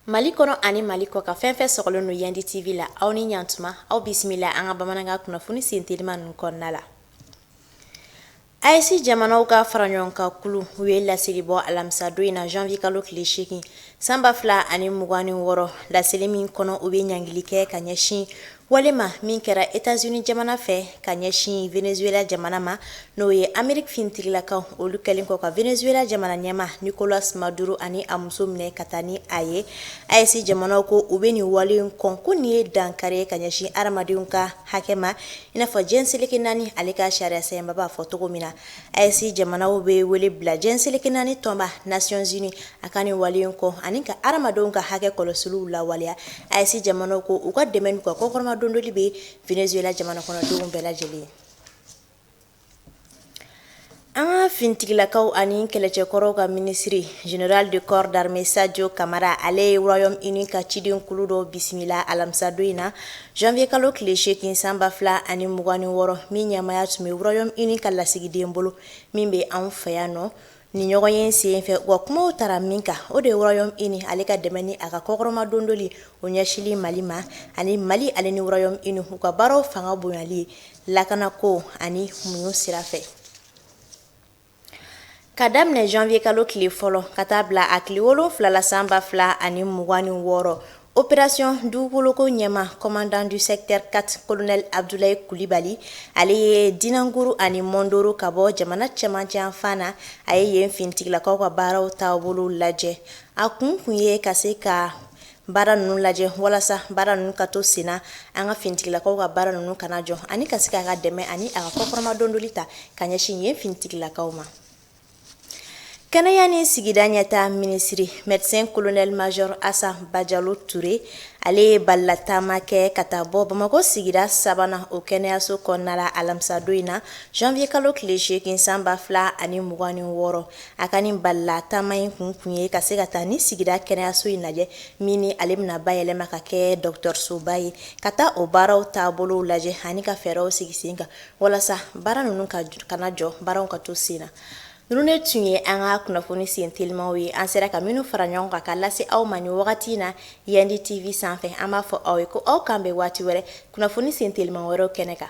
Mali kɔnɔ ani mali kɔkan fɛn fɛn sɔgɔlen don yandi tv la aw ni yan tuma aw bisimila an ka bamanankan kunnafoni sen teliman ninnu kɔnɔna la AES jamanaw ka fara ɲɔgɔn kan kulu u ye laseli bɔ alamisadon in na janvier kalo tile seegin san ba fila ani mugan ni wɔɔrɔ laseli min kɔnɔ u bɛ ɲangili kɛ ka ɲɛsin Waleya min kɛra etats unis jamana fɛ ka ɲɛsin venezuela jamana ma n'o ye ameriki finitigilakaw olu kɛlen kɔ ka venezuela jamana ɲɛmaa nicolas maduro ani a muso minɛ ka taa ni a ye AES jamana ko u bɛ nin wale in kɔn ko nin ye dankari ye ka ɲɛsin hadamadenw ka hakɛ ma i n'a fɔ jɛn seleke naani ale ka sariyasɛbɛnba b'a fɔ cogo min na AES jamanaw bɛ wele bila jɛn seleke naani tɔnba nations unies a ka nin wale kɔn ani ka hadamadenw ka hakɛ kɔlɔsiliw lawaleya AES jamanaw ko u ka dɛmɛ ka kɔkɔrɔmadondoli bɛ venezuela jamana kɔnɔdenw bɛɛ lajɛlen ye an ka finitigilakaw ani kɛlɛcɛkɔrɔw ka minisiriri général de corps d'armée sajo kamara ale ye royaume uni ka cidenkulu dɔ bisimila alamisadon in na Janvier kalo tile 8 san 2026 min ɲɛmaaya tun bɛ royaume uni ka lasigiden bolo min bɛ anw fɛ yan nɔ nin ɲɔgɔn ye sen fɛ u ka kumaw taara min kan o de ye royaume uni ale ka dɛmɛ ni a ka kɔkɔrɔma dondoli o ɲɛsili Mali ma ani Mali ale ni royaume uni u ka baaraw fanga bonyali lakanako ani muɲu sira fɛ. ka daminɛ janvier kalo tile fɔlɔ ka taa bila a tile wolonwula la san ba fila ani mugan ni wɔɔrɔ opération dugukoloko ɲɛmaa commandant du secteur 4 colonel abdoulaye kulibali ale ye dinanguru ani mɔndoro ka bɔ jamana cɛmancɛ yanfan na a ye yen finitigilakaw ka baaraw taabolow lajɛ a kun kun ye ka se ka baara ninnu lajɛ walasa baara ninnu ka to sen na an ka finitigilakaw ka baara ninnu kana jɔ ani ka se k'a ka dɛmɛ ani a ka kɔkɔrɔma dondoli ta ka ɲɛsin yen finitigilakaw ma kɛnɛya ni sigida ɲɛtaa minisiri medecin colonel major asa bajalo ture ale ye balalataama kɛ ka taa bɔ bamakɔ sigida sabanan o kɛnɛyaso kɔnɔna la alamisadon in na janvier kalo tile seegin san ba fila ani mugan ni wɔɔrɔ A ka nin balala taama in kun kun ye ka se ka taa ni sigida kɛnɛyaso in lajɛ min ni ale bɛna bayɛlɛma ka kɛ dɔgɔtɔrɔsoba ye ka taa o baaraw taabolo lajɛ ani ka fɛɛrɛw sigi sen kan walasa baara ninnu ka kana jɔ baaraw ka to sen na ninnu ne tun ye an ka kunnafoni sen telimaw ye an sera ka minnu fara ɲɔgɔn kan ka lase aw ma nin wagati in na yandi tv sanfɛ an b'a fɔ aw ye ko aw k'an bɛn waati wɛrɛ kunnafoni sen teliman wɛrɛ kɛnɛ kan